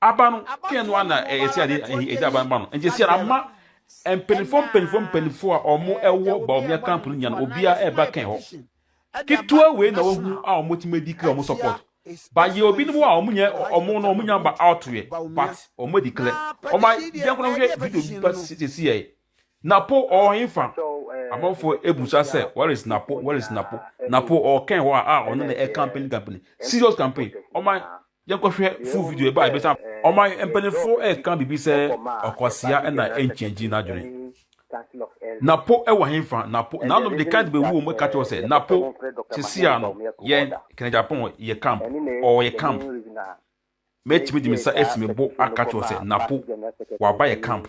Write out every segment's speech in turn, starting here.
Aba no kɛn no ana ɛsɛ ade ɛdi aba no ba no. Nti sɛ ama mpanyinfoɔ mpanyinfoɔ mpanyinfoɔ a wɔn ɛwɔ Bawumia camp no nya no obia ɛba kɛn hɔ. Ketewa wei na wahu a wɔn tumi adi kra wɔn support. Ba yɛ obi no mu a wɔn nyɛ wɔn no wɔn nya ba out yɛ but wɔn adi kra. Wɔn a yɛn kora hwɛ video bi ba sisi yɛ. Napo ɔwɔ hefa? Amanfoɔ ebusa sɛ where is Napo where is Napo? Napo ɔwɔ kɛn hɔ a a ɔno na ɛcampaign campaign serious campaign. Wɔn a Yɛnkɔhwɛ full video ɛbɛ a yɛbɛsan. Ɔman mpanyinfoɔ ɛreka biribi sɛ ɔkwasea na ɛnkyɛngyi n'adwene. Napo wɔ henfa? Napo nanom de card bɛwuo mu ɛka kyerɛw sɛ Napo sesiea no yɛn kena Japan yɛ camp ɔɔ yɛ camp mɛtumi de me nsa asi me bo aka kyerɛw sɛ Napo waba yɛ camp.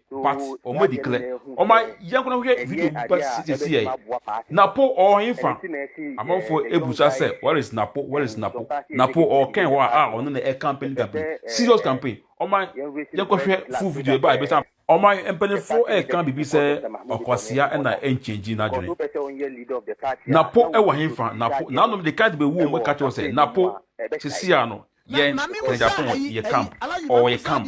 But ɔmo adi klɛ. Ɔma yɛn kwan hwɛ video bi pa sisiesie ɛ. Napo ɔwɔ henfa? Amanfoɔ ɛbusa sɛ where is Napo where is Napo? Napo ɔwɔ kɛn hɔ a a ɔno na ɛ campaign campaign. Serious campaign. Ɔma yɛn kɔ hwɛ full video ɛba a ɛbɛsa ama. Ɔma mpaninfoɔ ɛka biribi sɛ ɔkwasea ɛna ɛnkyɛngyi n'adwene. Napo ɛwɔ henfa? Napo n'anom de card bɛ wuom ɛka kyerɛw sɛ Napo sisiaa no yɛn kandidatɔn yɛ camp ɔwɔ yɛ camp.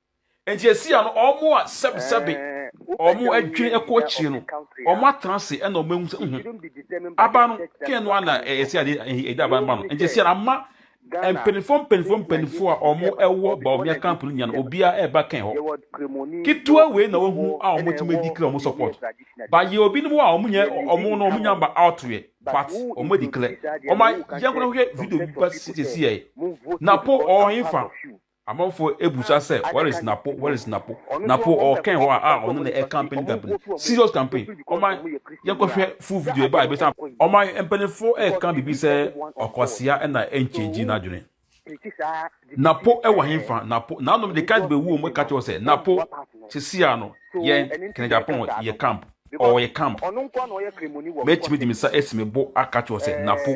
Enti ɛsia no, wɔn a sɛbesɛbe wɔn adwene kɔ akyire no, wɔn atena ase ɛna wɔn ehu sɛ, nhu, aba no, kɛn no ana ɛsi ade ɛda aba no ma no. Enti ɛsia no ama mpanyinfoɔ mpanyinfoɔ mpanyinfoɔ a wɔn ɛwɔ Bawumia camp no nyina no, obiara ɛba kɛn hɔ. Ketewa wei na wɔhu a wɔn tumi adi kila wɔn support. Ba yɛ obinom wɔ a wɔn nyɛ wɔn no wɔn nya ba out yɛ, but wɔn adi kila. Wɔn a yɛn kɔ na hwɛ video bi ba sisi yɛ, na po ɔwɔ henfa? Amanfoɔ ɛbusa sɛ where is Napo where is Napo Napo ɔɔkɛn hɔ a a ɔno na ɛ campaign campaign serious campaign ɔman yɛnkɔ hwɛ full video ɛbaa ɛbɛsa ɔman mpaninfoɔ ɛɛka biribi sɛ ɔkwasea ɛna ɛnkyɛngyi n'adwene Napo ɛwɔ henfa Napo naanom de card bɛwuo mu ɛka kyerɛ wɔ sɛ Napo sesia no yɛn kena Japan yɛ camp ɔɔyɛ camp mɛtumi de me sa ɛsi me bo aka kyerɛ wɔ sɛ Napo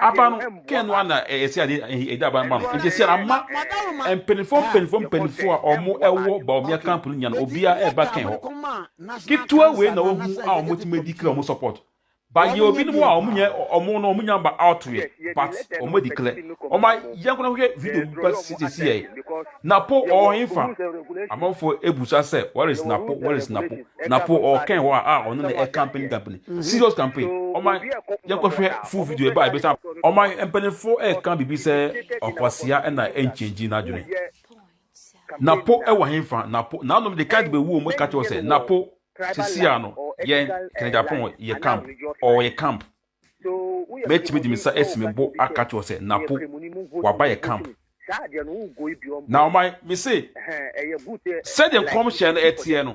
aba no kɛn no ana ɛsɛ ade ɛda aba no ma no nti sɛ ama mpanyinfoɔ mpanyinfoɔ mpanyinfoɔ a wɔn ɛwɔ baomia camp no nya no obia ɛba kɛn hɔ ketewa wei na wɔn ho a wɔn ti mɛ di kila wɔn support ba yɛ obi no mu a wɔn nyɛ wɔn no wɔn nya ba out yɛ but wɔn adi kila wɔn ayɛ nkɔla hwɛ video ba sisi yɛ. Napo ɔɔ henfa? Amanfoɔ ɛbusa sɛ where is Napo, where is Napo? Napo ɔɔ kɛn hɔ a a ɔno na ɛcampaign campaign. Serious campaign. Ɔma yɛnkɔ hwɛ full video ɛba a yɛbɛsan aba. Ɔma mpaninfoɔ ɛɛka biribi sɛ ɔkwasea ɛna ɛnkyɛngyi n'adwene. Napo ɛwɔ henfa? Napo, n'anom de card bɛwuo mu ɛka kyerɛ wo sɛ Napo sesia no yɛn Kɛnɛgyapɔn yɛ camp, ɔɔ yɛ camp. Mɛtumi de me nsa asi me bo aka akyerɛ wo sɛ, Napo, waba yɛ camp. Na ɔma mese, sɛdeɛ nkɔmhyɛ no ɛteɛ no,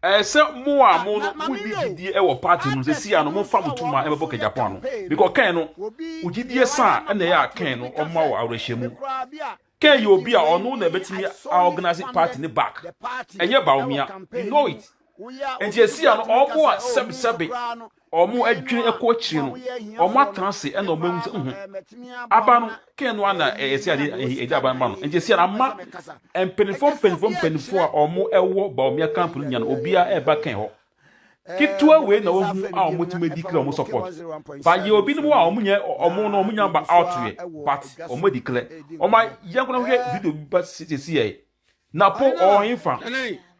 ɛyɛ sɛ mo a mo no mo ni gyidie wɔ party no sɛ sia no mo fa mo tuma ɛbɛbɔ kɛgyapɔ ano, because kɛn no, wo gyidie saa ɛna ɛyɛ a kɛn no ɔma wo awerɛhyɛmu. Kay yɛ obi a ɔno na ɛbɛtumi a organise party ne back, ɛnyɛ Bawumia, you know it. Nti ɛsia no ɔmo a sɛbe sɛbe ɔmo adwene ɛkɔ akyire no, ɔmo atena ase ɛna ɔmo ahu sɛ nhu, aba no Kay no ara na ɛsia de ɛde aba no ma no. Nti ɛsia no ama mpaninfoɔ mpaninfoɔ mpaninfoɔ a ɔmo ɛwɔ Bawumia camp no nyinaa no obiara ɛba Kay hɔ. ketewa wei na wɔhu a wɔtumi adi kla wɔn support ba yɛ obi no mu a wɔn nyɛ wɔn no wɔn nyɛ ba out yɛ but wɔn adi kla wɔn a yɛn kɔnɔ hwɛ video bi ba sisi yɛ napo ɔnfa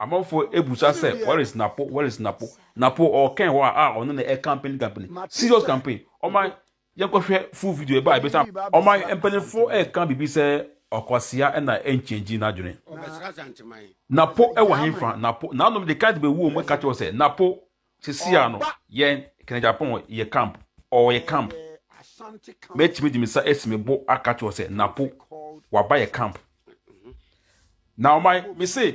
amanfo ebusa sɛ where is napo where is napo napo ɔkɛn hɔ a ɔno na ɛ campaign campaign serious campaign wɔn a. Yɛnkɔhwɛ full video ɛbɛ a ɛbɛ sa. Ɔman mpanyinfo ɛka biribi sɛ ɔkwasea ɛna ɛnkyɛngyi n'adwene. Napo ɛwɔ henfa? Napo nanom de card bɛ wu ɔmo ɛka kyerɛw sɛ napo sesia no yɛn kena Japan yɛ camp ɔɔ yɛ camp mɛtumi de me sa ɛsi me bo aka kyerɛw sɛ napo waba yɛ camp na ɔman mese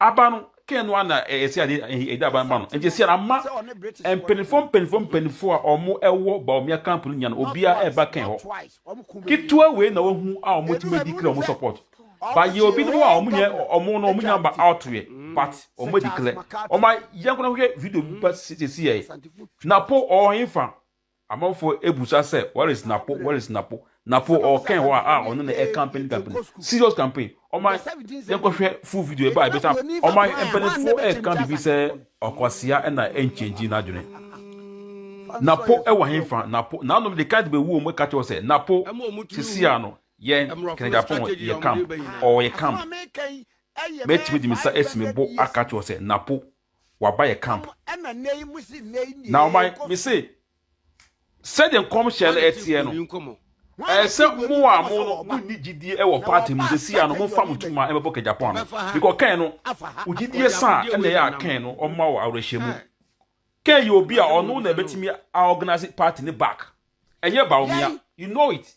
Aba no, Ken no ara na ɛsɛ ade ɛde aba no ma no. Nti ɛsɛ ama mpanyinfoɔ mpanyinfoɔ mpanyinfoɔ a wɔn ɛwɔ Bawumia camp no nya no, obiara ɛba Ken hɔ. Ketewa wei na wahu a wɔn tumi declare wɔn support. But yɛwɔ binom a wɔn nyɛ wɔn no wɔn nya ba out yɛ but wɔn declare. Wɔn a yɛn kɔ na hwɛ video bi ba sisi yɛ. Napo ɔwɔ henfa? Amanfoɔ ɛbusa sɛ where is Napo where is Napo Napo ɔwɔ kɛn hɔ a a ɔno na ɛ campaign campaign serious campaign ɔma yɛn kɔ hwɛ full video ɛba ɛbɛsa ɔma mpanifoɔ ɛ ka bibi sɛ ɔkwasea ɛna ɛ nkyɛngyi n'adwene Napo ɛwɔ henfa Napo nanom de ka de bɛ wuo mu ɛka kyɛw sɛ Napo sesia no yɛn kɛnɛgyapɔn yɛ camp ɔwɔ yɛ camp mɛtumi de me sa ɛsi me bo aka kyɛw sɛ Napo wɔaba yɛn camp. Na ɔma me se, sɛdeɛ nkɔmhyɛ no ɛteɛ no, ɛyɛ sɛ mo a mo no monni gyidie wɔ party mu sɛsi a no, momfa mo tuma mmɛbɔ ka Japan no. Mekɔ Ken no, wo gyidie sa a ɛna ɛyɛ a Ken no ɔma wo awerɛhyɛmu. Ken yɛ obi a ɔno na ɛbɛtumi a organise party no back, ɛnyɛ Bawumia, you know it.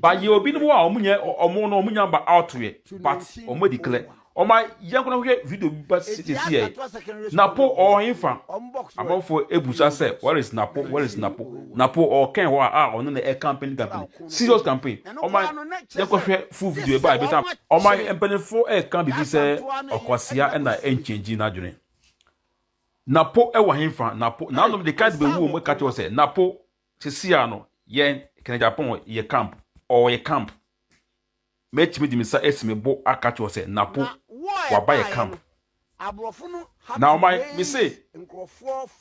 But yɛwɔ binom hɔ a ɔmo nyɛ ɔmo no ɔmo nya ba out yɛ but ɔmo adi klɛ ɔma yɛn nkɔ na hwɛ video bi ba sisi yɛ napo ɔɔ henfa amanfo ebu sa sɛ where is napo where is napo napo ɔɔ kɛn hɔ a a ɔno na ɛ campaign campaign serious campaign ɔma yɛn kɔ hwɛ full video ɛba ebi ta ɔma mpanyinfo ɛka bibi sɛ ɔkwasia ɛna ɛnkyɛngyi n'adwene napo ɛwɔ henfa napo nanom de kan de bɛ wuo mu ɛka kyɛ wɔ sɛ napo Sisi a no yɛn kena Japan wɔ yɛ camp ɔwɔ yɛ camp mɛtumi de me nsa asi me bo aka kyerɛ wo sɛ Napo waba yɛ camp na ɔma me se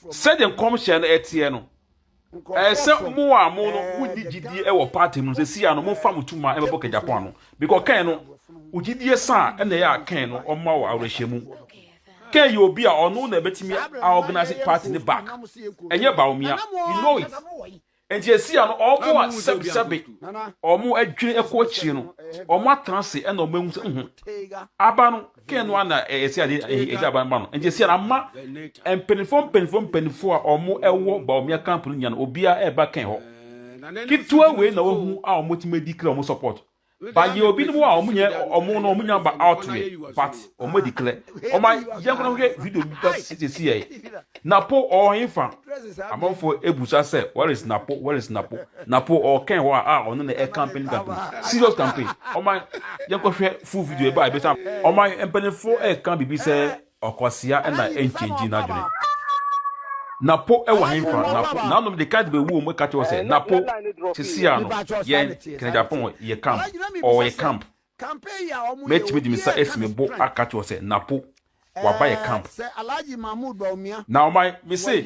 sɛdeɛ nkɔm hyɛ no ɛteɛ no ɛyɛ sɛ mo a mo no mo ni gyidie ɛwɔ party mu sɛ si a no mo fa mo tuma ɛbɛbɔ kɛ Japan no bikɔ kɛn no ogyidie saa ɛna ɛyɛ a kɛn no ɔma wɔ awerɛhyɛmu Kay yɛ obi a ɔno na ɛbɛtumi a organise party ne back. Ɛnyɛ Bawumia. You know it. Nti ɛsi ano ɔmo a sɛbe sɛbe ɔmo adwene ɛkɔ akyire no ɔmo atena ase ɛna ɔmo ehu sɛ ho. Aba no Kay no ana ɛsi ade ɛgya aba no ba no. Nti ɛsi ano ama mpanyinfoɔ mpanyinfoɔ mpanyinfoɔ a ɔmo ɛwɔ Bawumia camp no nyinaa no obiara ɛba Kay hɔ. Ketewa wei na wahu a ɔmo tumi adi kra ɔmo support. But yɛwɔ binom a wɔn nyɛ wɔn no wɔn nya ba out yɛ but wɔn adi klɛ. Wɔn a yɛn koraa hwɛ video bi ba sisi yɛ. Napo ɔwɔ hefa? Amanfoɔ ebusa sɛ where is Napo where is Napo? Napo ɔwɔ kɛn hɔ a a ɔno na ɛ campaign campaign serious campaign. Wɔn a yɛn kɔ hwɛ full video ɛba ɛbɛsa. Wɔn a mpanyinfoɔ ɛka biribi sɛ Ɔkwasea na ɛnkyɛngyi n'adwene. Na po wɔ henfa? Na po, nanom de kite bɛwu wɔn mu ka kyerɛ wo sɛ, na po, sesia no, yɛn, Kenegyapon, yɛ camp, ɔɔ yɛ camp. Mɛtumi de me nsa asi me bo aka kyerɛ wo sɛ, na po, waba yɛ camp. Na ɔman, mese,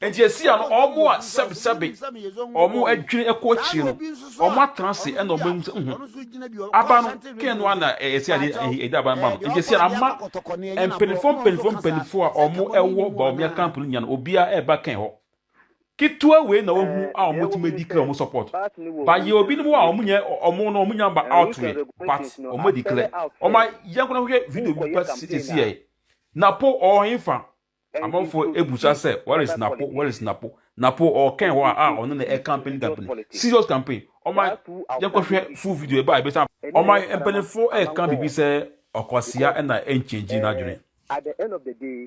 Enti ɛsii a na wɔn a sɛbesɛbe wɔn adwene kɔ akyire no, wɔatena ase na wɔahu sɛ, Nhu, aba no, Kain no ara na ɛsɛ ade ahi, ɛde aba no ma no. Enti ɛsii a na ama mpanimfoɔ mpanimfoɔ mpanimfoɔ a wɔwɔ Bawumia camp no nyinaa no, obiara reba Kain hɔ. Ketewa wei na wɔahu a wɔtumi adi kla wɔn support. But yɛwɔ binom hɔ a wɔnyɛ, wɔn no, wɔnnya ba out yet, but wɔadi kla. Wɔma yɛnkɔ na hwehwɛ video bi pa sisiɛ yi. Na po ɔwɔ hefa? Amanfoɔ ɛbusa sɛ where is Napo where is Napo Napo ɔɔkɛn hɔ a a ɔno na ɛ campaign campaign serious campaign ɔma yɛnkɔ hwɛ full video ɛbaa ɛbɛsa ɔma mpaninfoɔ ɛɛka biribi sɛ ɔkwasea ɛna ɛnkyɛngyi n'adwene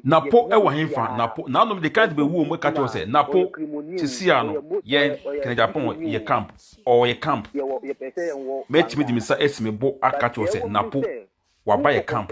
Napo ɛwɔ henfa Napo naanom de kan de bɛwuo mu ɛka kyerɛ sɛ Napo sesiaa no yɛn kɛnɛgyapɔn yɛ camp ɔɔ yɛ camp mɛtumi de me sa ɛsi me bo aka kyerɛ sɛ Napo waba yɛ camp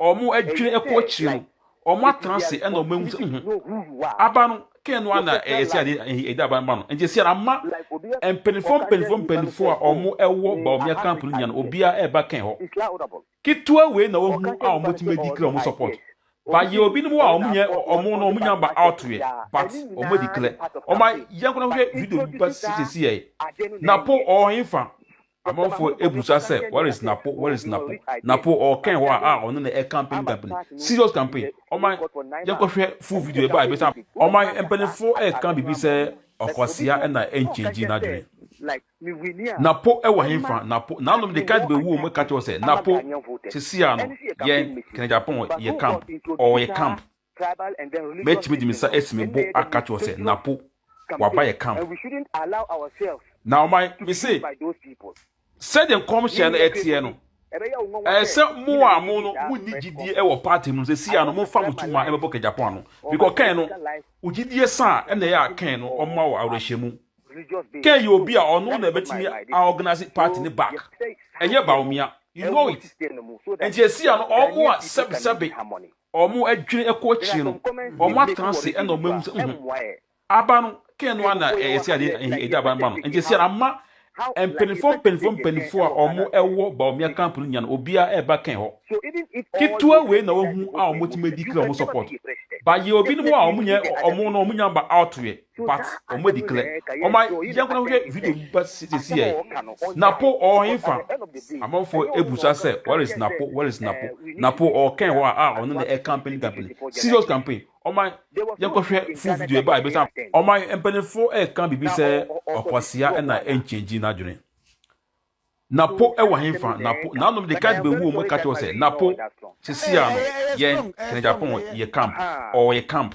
wɔadwene kɔ akyire no, wɔatena ase na wɔahu sɛ mhm, aba no kɛn no ana ɛsi ade ɛde aba no ba no nti ɛsi ara ma mpanyinfoɔ mpanyinfoɔ mpanyinfoɔ a wɔwɔ Bawumia camp no nyinaa obiara ɛreba kɛn hɔ ketewa wei na wɔhu a wɔtumi adi kira wɔn support bayɛ obinom a wɔn nyɛ wɔn no wɔn nyɛ ba out yɛ but wɔn adi kira wɔn ayɛ nkɔla hwɛ video bi ba sisi yɛ na po ɔɔhin fa. Amanfoɔ abisa sɛ where is Napo, where is Napo, Napo ɔɔkɛn hɔ a a ɔno na ɛyɛ campaign campaign, serious campaign, ɔman yɛnkɔhwɛ full video ɛbaa ɛbɛsa aba. Ɔman mpaninfoɔ ɛɛka biribi sɛ ɔkwasea na ɛnkyɛngyi n'adwene. Napo ɛwɔ henfa, Napo, naanom de card bɛwu wɔn ɛka kyerɛ wo sɛ Napo sesia no yɛn kɛnɛ Japan yɛ camp, ɔɔyɛ camp. Mɛtumi de me nsa asi me bo aka akyerɛ wo sɛ, Napo, waba yɛ camp. Na ɔma me se, sɛdeɛ nkɔmhyɛ no ɛteɛ no, ɛyɛ sɛ mo a mo no mo nni gyidie ɛwɔ party mu no sɛ sia no mo fa mo tuma ɛbɛbɔ kɛgyapɔn ano bikɔ Ken no wo gyidie sa a ɛna ɛyɛ a Ken no ɔma wo awerɛhyɛmu Ken yɛ obi a ɔno na ɛbɛtumi a organize party ne back ɛnyɛ Bawumia you know it ɛnti ɛsia no ɔmo a sɛbesɛbe wɔadwene kɔ akyire no, wɔatena ase na wɔahu sɛ, uhu, aba no, kɛn no ara na ɛsɛ adeɛ na ɛhi ɛde aba no ba no. Nti ɛsɛ ama mpanimfoɔ mpanimfoɔ mpanimfoɔ a wɔwɔ Bawumia camp no nyinaa no, obiara ɛreba kɛn hɔ. Ketewa wei na wɔahu a wɔtumi adi kra wɔn support. But yɛwɔ binom a wɔnyɛ wɔn no wɔnya ba out yɛ. But ɔmo adi klɛ. Ɔma yɛn kwan hwɛ video mu ba sisi ɛ. Napo ɔwɔ henfa? Amanfo ebusa sɛ where is Napo, where is Napo? Napo ɔwɔ kɛn hɔ a a ɔno na ɛ campaign campaign. Serious campaign. Ɔma yɛn kɔ hwɛ full video ɛba a ɛbɛsa. Ɔma yɛn mpanyinfo ɛka biribi sɛ ɔkwasea na ɛ nkyɛngyi n'adwene. Napo ɛwɔ henfa? Napo nanom de card bɛ wuo mu ɛka kyerɛ wo sɛ Napo sisi a no yɛn kɛnɛ Japan yɛ camp ɔwɔ yɛ camp.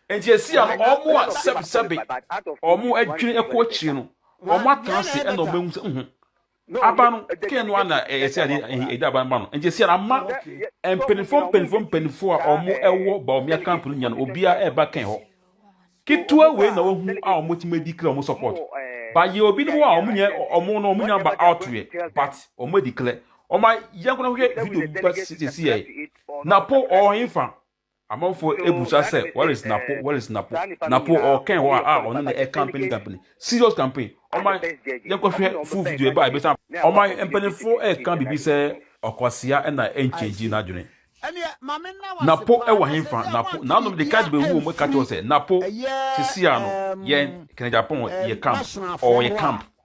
Enti ɛsii a no wɔn a sɛbesɛbe wɔn adwene kɔ akyire no, wɔatena ase na wɔahu sɛ, nhu, aba no, Kain no ara na ɛyɛ sɛ ade ɛde aba no ba no. Enti ɛsii a no ama mpanimfoɔ mpanimfoɔ mpanimfoɔ a wɔwɔ Baomia camp no nyinaa no, obiara ɛreba Kain hɔ. Ketewa wei na wɔahu a wɔbɛtumi adi kra wɔn support. But yɛwɔ binom a wɔn nyɛ wɔn no wɔn nyɛ aba out yɛ, but wɔn adi kra. Wɔn a yɛn nko na hwɛ video ba sisi yɛ, na po wɔn fa Amanfoɔ ɛbusa sɛ where is Napo where is Napo Napo ɔɔkɛn hɔ a a ɔne no ɛkampeni kampeni serious campaign ɔma yɛnkɔ hwɛ full video ɛba a ɛbɛsan aba ɔma mpaninfoɔ ɛɛka biribi sɛ ɔkwasea ɛna ɛnkyɛngyi n'adwene Napo ɛwɔ henfa Napo naanom de card bɛwuo ɔmo ɛka kyerɛ wo sɛ Napo sesia no yɛn kɛnɛ Japan yɛ camp ɔɔ yɛ camp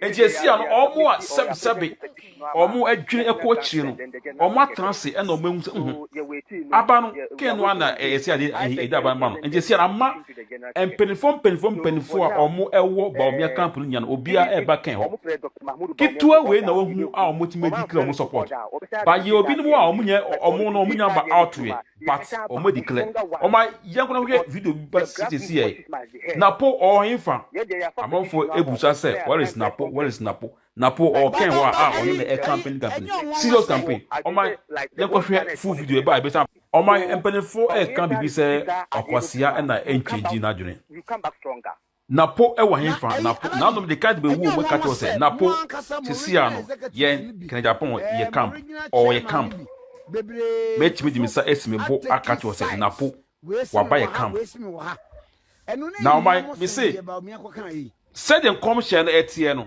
Enti esia no, wɔn a sɛbesɛbe wɔadwene kɔ akyiri no, wɔatena ase na wɔahu sɛ, oho, aba no, Kain no ara na ɛyɛ sɛ ade ahe edi aba no ma no. Enti esia no, ama mpanyimfo mpanyimfo mpanyimfo a wɔwɔ Bawumia camp no nyinaa no, obiara reba Kain hɔ. Ketewa wei na wɔahu a wɔatumi adi kra wɔn support. But yɛwɔ binom hɔ a wɔnyɛ wɔn no, wɔnya aba out yɛ. But ɔmo declare ɔma yɛn kora hwɛ video bi ba sitesi yɛ napo ɔhenfa amanfo ebusa sɛ where is napo where is napo napo ɔkɛn hɔ a a ɔno na ɛ campaign campaign serious campaign ɔma yɛn kɔ hwɛ full video ɛba ebisa ɔma mpanyinfo ɛka bibi sɛ ɔkwasea ɛna ɛnkyɛngyi n'adwene Na po wɔ hefa? Na po, nanom de kite bɛwu wɔn ka kyerɛ sɛ, na po, sesia no, yɛn, kena Japan, yɛ camp, ɔɔ yɛ camp. Mɛtumi de me nsa asi me bo aka kyerɛ wo sɛ, na po, waba yɛ camp. Na ɔman, me se, sɛdeɛ nkɔmhyɛ no teɛ no,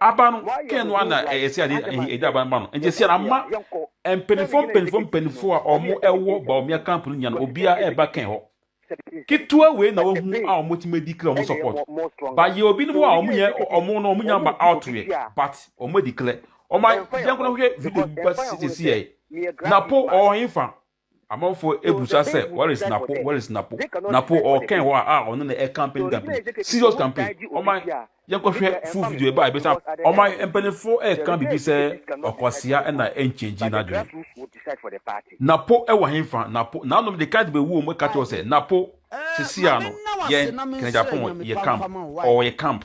Aba no kɛn no ara na ɛyɛ sɛ ade a ɛda aba no ma no. Enti sɛ ama mpanyimfoɔ mpanyimfoɔ mpanyimfoɔ a wɔwɔ Bawumia camp no nyinaa no, obiara reba kɛn hɔ. Ketewa wei na wɔahu a wɔbɛtumi adi kla wɔn support. But yɛwɔ binom a wɔnyɛ wɔn no wɔnya mma out yɛ but wɔadi kla. Wɔma yɛnkɔ na hwɛ video bi ba sesei ɛ. Napo ɔwɔ he fa? Amanfoɔ ɛbusa sɛ where is Napo where is Napo Napo ɔɔkɛn hɔ a ɔno na ɛ campaign campaign serious campaign ɔma yɛnkɔ hwɛ full video ɛbaa ɛbɛsa ɔma mpaninfoɔ ɛɛka bibi sɛ ɔkwasea ɛna ɛnkyɛngyi nadwene Napo ɛwɔ henfa Napo naanom de card bɛwu ɔmo ɛka kyerɛ sɛ Napo sesia no yɛn kɛnɛgyapɔn yɛ camp ɔɔ yɛ camp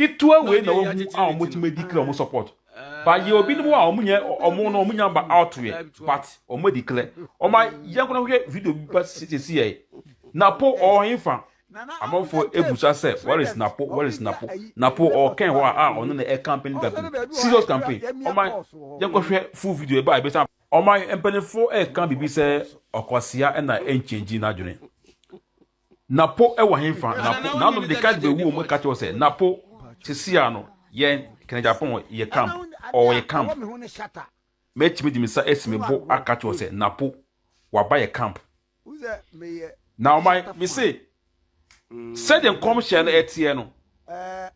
Ketewa wei na wɔhu a wɔn tumi adi kle wɔn support but yɛ obi nom a wɔn nyɛ wɔn no wɔn nya ba out yɛ but wɔn adi kle wɔn a yɛn kora hwɛ video bi pa sisi yɛ napo ɔɔhen fa amanfo ebusa sɛ where is napo where is napo napo ɔɔkɛn hɔ a ɔno na ɛ campaign campaign serious campaign wɔn a yɛn kɔ hwɛ full video ɛba ebi sa wɔn a mpanyinfo ɛɛka bibi sɛ ɔkwasia ɛna ɛnkyɛngyi n'adwene. Na po wɔ henfa? Na po, nanom de card bɛwuo mu ka kyerɛw sɛ, na po, sesia no, yɛn, Kennedy Agyapong, yɛ camp, ɔɔ yɛ camp. Mɛtumi de me nsa asi me bo aka kyerɛw sɛ, na po, waba yɛ camp. Na ɔman, me se, sɛdeɛ nkɔmhyɛ no ɛteɛ no,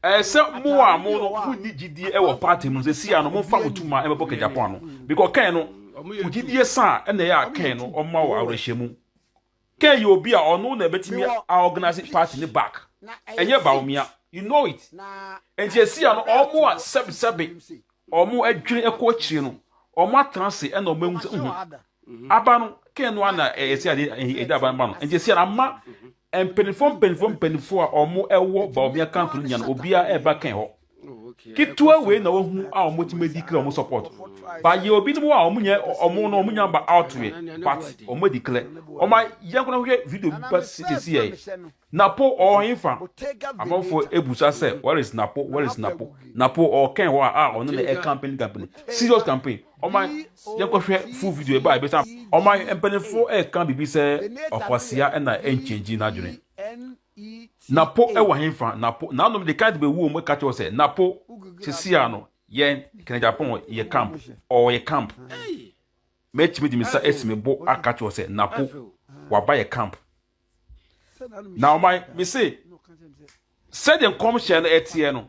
ɛyɛ sɛ mo a mo no, mo nni gyidie wɔ party mu no, sesia no, mo nfa mo tuma ɛmɛbɔ Kennedy Agyapong ano, bikɔ kɛn no, mo gyidie saa, ɛna ɛyɛ a kɛn no, ɔma wɔ awerɛhyɛmu. Kay yɛ obi a ɔno na ɛbɛtumi a organise party ne back. Ɛnyɛ Bawumia. You know it. Nti ɛsia no ɔmo a sɛbi sɛbi ɔmo adwene ɛkɔ akyire no ɔmo atena ase ɛna ɔmo ahu sɛ uhu aba no Kay no a na ɛsia de ɛde aba no ba no. Nti ɛsia no ama mpanyinfoɔ mpanyinfoɔ mpanyinfoɔ a ɔmo ɛwɔ Bawumia camp no nya no obia ɛba Kay hɔ. Ketewa wei na wahu a wɔn bɛtumi adi kila wɔn support. Ba yɛ obi no mu a wɔn nyɛ wɔn no wɔn nya ba out yɛ but wɔn adi kila. Wɔn a yɛn kɔnɔ hwɛ video bi ba sisi yɛ. Napo ɔɔhin fa. Amanfo ebusa sɛ where is Napo where is Napo. Napo ɔɔkɛn hɔ a a ɔno na ɛ campaign campaign serious campaign. Wɔn a yɛn kɔ hwɛ full video ɛba ebisa wɔn a mpanyinfo ɛɛka bibi sɛ ɔkwasia ɛna ɛnkyɛngyi n'adwene. Na po wɔ henfa? Na po, nanom de kite bɛwu wɔn mu ka kyerɛ sɛ, na po, sesia no, yɛn, kene Japan yɛ camp, ɔɔ yɛ camp. Mɛtumi de me nsa asi me bo aka kyerɛ sɛ, na po, waba yɛ camp. Na ɔman, me se, sɛdeɛ nkɔmhyɛ no ɛteɛ no,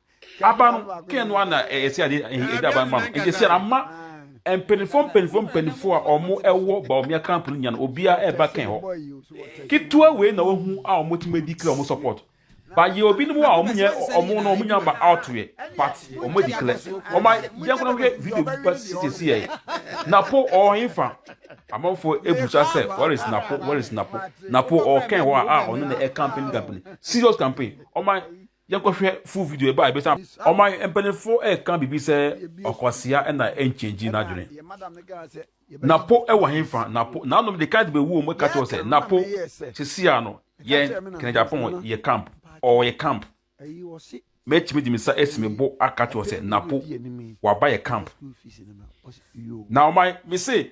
aba no kɛn no ana ɛsi ade ɛyɛ ɛda aba no ma no nti ɛsi ama mpanyinfoɔ mpanyinfoɔ mpanyinfoɔ a wɔn ɛwɔ baomia camp no nya no obiara ɛba kɛn hɔ ketewa wei na wɔhu a wɔn ti ma di kira wɔn support bayɛ obi no mu a wɔn nyɛ wɔn no wɔn nya ba out yɛ but wɔn di kira wɔn a yɛn kɔnɔ hwɛ video bi ba sisi yɛ napo ɔɔhin fa amanfoɔ ebusa sɛ where is napo where is napo napo ɔɔkɛn hɔ a a ɔno na ɛkampin kampin serious campaign wɔn a Yɛnkɔhwɛ full video ɛbɛ a ɛbɛsa. Ɔman mpanyinfoɔ ɛɛka biribi sɛ ɔkwasea na ɛnkyɛngyi n'adwene. Napo ɛwɔ henfa? Napo naanom de card bɛ wuo ɔmo ɛka kyerɛ wo sɛ napo sesia no yɛn kena Japan yɛ camp ɔɔ yɛ camp mɛtumi de me sa ɛsi me bo aka kyerɛ wo sɛ napo waba yɛ camp na ɔman mese